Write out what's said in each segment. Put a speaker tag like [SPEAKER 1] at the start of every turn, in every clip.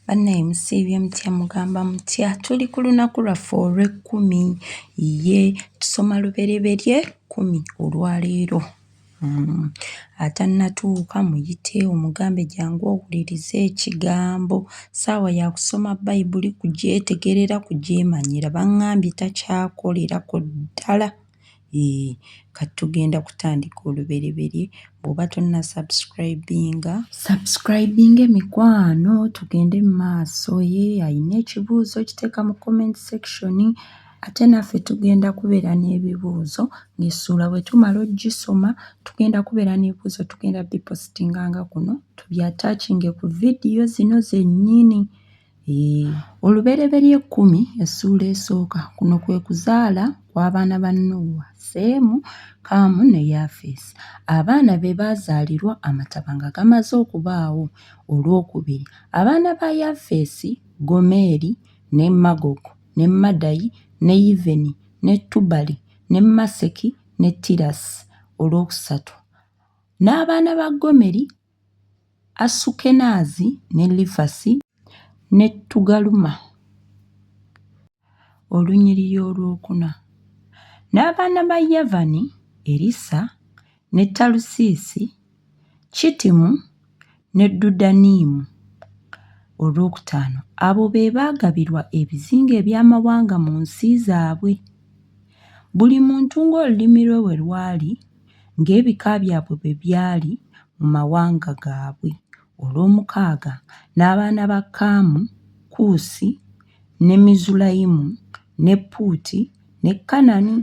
[SPEAKER 1] Banaye musiibye mutya mugamba mutya tuli ku lunaku lwaffe olw'ekkumi ye tusoma lubereberye kkumi olwaleero mm atannatuuka muyite omugambe jangu owulirize ekigambo ssaawa ya kusoma bayibuli kugyetegerera kugyemanyira bangambye takyakolerako ddala. Eeh kati tugenda kutandika olubereberye bw'oba tonnasubscribinga subscribinga emikwano tugende mu maaso ye alina ekibuuzo kiteeka mu comment section ate naffe tugenda kubeera n'ebibuuzo ng'essuula bwe tumala ogisoma tugenda kubeera n'ebibuuzo tugenda bipositinganga kuno tubyatakinge ku vidiyo zino zennyini. Olubereberye ekkumi essuula esooka kuno kwe kuzaala kw'abaana ba Nuuwa, Seemu, Kaamu ne Yafeesi. Abaana be baazaalirwa Amataba nga gamaze okubaawo olw'okubiri. Abaana ba Yafeesi, Gomeri, ne Magogu, ne Madayi, ne Yiveni, ne Tubali, ne Maseki, ne Tirasi, olw'okusatu. N'abaana ba Gomeri. Asukenaazi ne Lifasi ne Tugaluma, olunyiriri olwokuna, n'abaana ba Yavani, Erisa ne Talusiisi, Kittimu ne Dodaniimu, olwokutaano. Abo be baagabirwa ebizinga eby'amawanga mu nsi zaabwe, buli muntu ng'olulimi lwe bwe lwali. ng'ebika byabwe bwe byali mu mawanga gaabwe, olw'omukaaga, n'abaana ba Kaamu, Kuusi, ne Mizulayimu, ne Puuti, ne Kanani,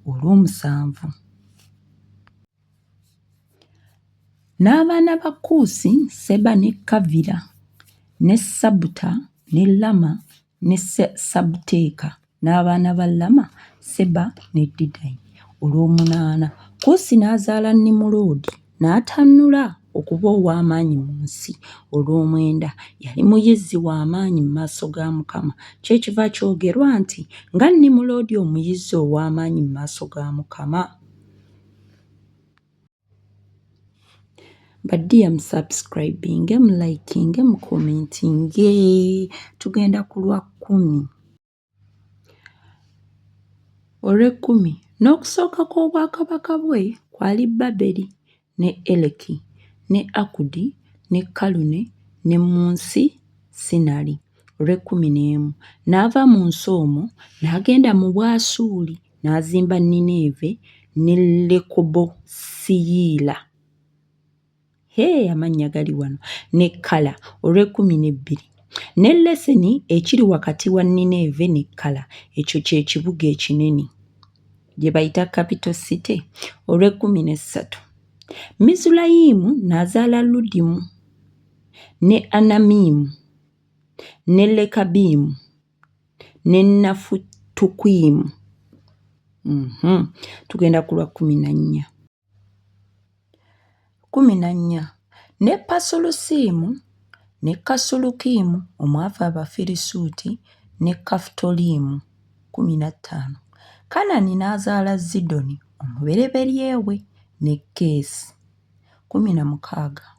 [SPEAKER 1] olw'omusanvu. N'abaana ba Kuusi, Seba ne Kavira, ne Sabuta, ne Lama, ne Sabteeka, n'abaana ba Lama, Seba ne Didayi, olw'omunaana. Kuusi n'azaala Nimuloodi, n'atannula okuba ow'amaanyi mu nsi, olw'omwenda, yali muyizzi wa maanyi mu maaso ga Mukama, kyekiva kyogerwa nti, Nga Nimuloodi omuyizzi ow'amaanyi mu maaso ga Mukama! badiya musubscribinge mulikinge mukomentinge tugenda ku lwa kkumi olw'ekkumi n'okusooka kw'obwakabaka bwe kwali baberi ne eleki ne akudi ne kalune ne mu nsi sinali olw'ekkumi n'emu n'ava mu nsi omwo n'agenda mu bwasuuli N'azimba Nineeve ne Lekobosiyila. Hee, amannya gali wano. Ne Kala, olw'ekkumi n'ebbiri. Ne Leseni, ekiri wakati wa Nineeve ne Kala, ekyo kye kibuga ekinene, gye bayita Capital City, olw'ekkumi n'essatu. Mizulayimu n'azaala Ludimu, ne Anamimu, ne Lekabimu. nenafu tukuimu mm -hmm. tugenda kulwa kumi na nnya kumi na nnya ne pasulusiimu ne kasulukiimu omwava abafirisuuti ne kafutoliimu kumi na ttaano kanani n'azaala zidoni omubereberyewe ne keesi kumi na mukaaga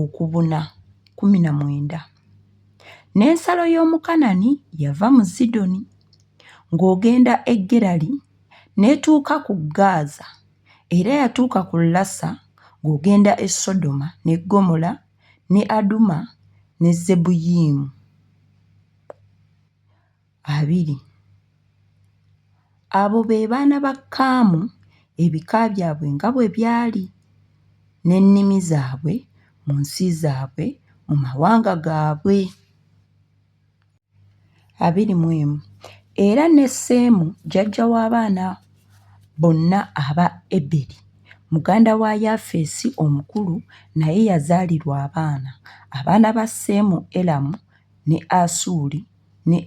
[SPEAKER 1] okubuna kkumi na mwenda. N'ensalo y'omu Kanani yava mu Zidoni ng'ogenda e Gerali n'etuuka ku Gaaza, era yatuuka ku Lasa ng'ogenda e Sodoma ne Ggomola ne Aduma ne Zeboyiyimu. abiri. Abo be baana ba Kaamu ebika byabwe nga bwe byali, n'ennimi zaabwe, mu nsi zaabwe, mu mawanga gaabwe. abiri mu emu Era ne Seemu jjajja w'abaana bonna aba Eberi, muganda wa Yafeesi omukulu, naye yazaalirwa abaana. Abaana ba Seemu, Elamu ne Asuuli ne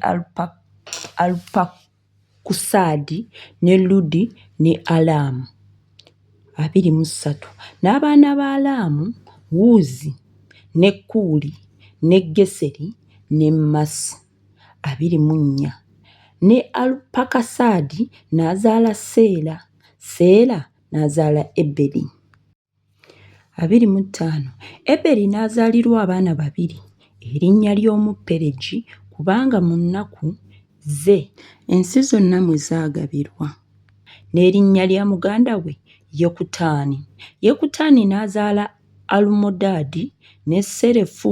[SPEAKER 1] Alupakusaadi, ne Ludi, ne Alamu, abiri mu ssatu. N'abaana ba Alamu, Wuuzi, ne Kuuli, ne Geseri, ne Masi, abiri mu nnya. Ne Alupakusaadi n'azaala Seera, Seera n'azaala Eberi. abiri mu ttaano eberi n'azaalirwa abaana babiri erinnya ly'omu peregi kubanga mu nnaku ze ensi zonna mwe zaagabirwa n'erinnya lya muganda we yekutaani yekutaani n'azaala alumodaadi ne serefu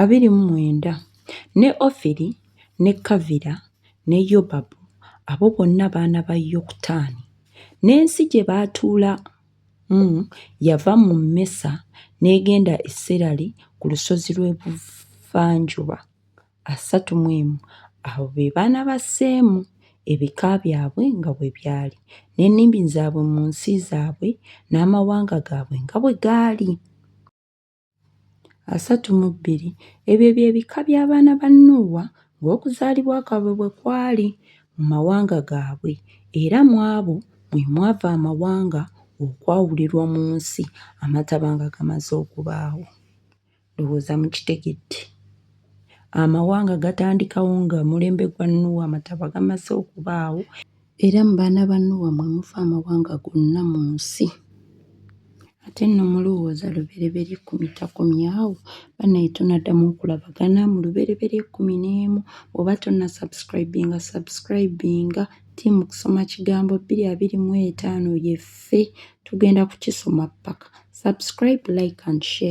[SPEAKER 1] abiri mu mwenda, ne Ofiri, ne Kavira, ne Yobabu, abo bonna baana ba Yokutaani. N'ensi gye baatuulamu yava mu Mesa n'egenda e Serali ku lusozi lw'ebuvanjuba. asatu mu emu Abo be baana ba Seemu, ebika byabwe nga bwe byali, n'ennimi zaabwe mu nsi zaabwe, n'amawanga gaabwe nga bwe gaali. asatu mu bbiri. Ebyo bye bika by'abaana ba Nuuwa ng'okuzaalibwa kwabwe bwe kwali mu mawanga gaabwe, era mu abo mwe mwava amawanga okwawulirwa mu nsi Amataba nga gamaze okubaawo. Ndowooza mukitegedde. Amawanga gatandikawo nga mulembe gwa Nuuwa Amataba gamaze okubaawo. Era mu baana ba Nuuwa mwe muva amawanga gonna mu nsi. Ate nno mulowooza lubereberye ekkumi takomye awo? Banaye tunaddamu okulabagana mu lubereberye ekkumi n'emu. Bw'oba tonna subscribinga, subscribinga. Team kusoma kigambo bbiri abiri mu etaano yeffe. Tugenda kukisoma ppaka. Subscribe, like and share.